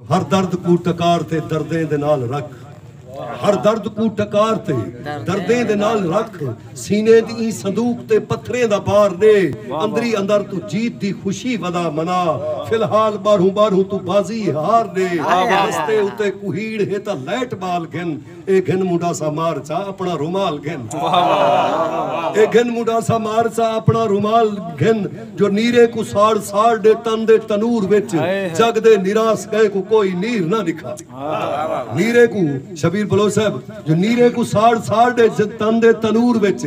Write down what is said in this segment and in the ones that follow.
ہر درد کوں ٹکار تے دردیں دے نال رکھ ہر درد کوں ٹکار تے دردیں دے نال رکھ سینے دی ایں صندوق تے پتھریں دا بار ڈے اندری اندر تو جیت دی خوشی ودا منا فی الحال باہروں باہروں تو بازی ہار ڈے رستے اتے کوہیڑ ہے تاں لائٹ بال گھن اے گھن مڈا سا مار چا اپنا رومال گھن اے گھن مڈا سا مار چا اپنا رومال گھن جو نیرے کو ساڑ ساڑ دے تن دے تنور وچ جگ دے نراس گئے کو کوئی نیر نہ دکھا نیرے کو شبیر بلوچ صاحب جو نیرے کو ساڑ ساڑ دے تن دے تنور وچ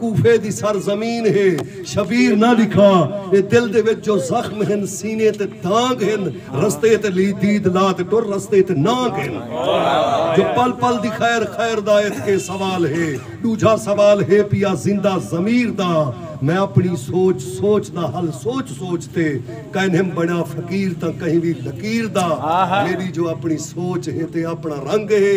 کوفے دی سر زمین ہے شبیر نہ لکھا اے دل دے وچ جو زخم ہن سینے تے دانگ ہن رستے تے لی دید لا تے ٹر رستے تے نانگ ہن جو پل پل دی خیر خیر دا ایتھ کے سوال ہے ڈوجھا سوال ہے پیا زندہ ضمیر دا میں اپنی سوچ سوچ دا حل سوچ سوچ تے کائنہم بنیا فقیر تاں کہیں وی لکیر دا میڈی جو اپنی سوچ ہے تے اپنا رنگ ہے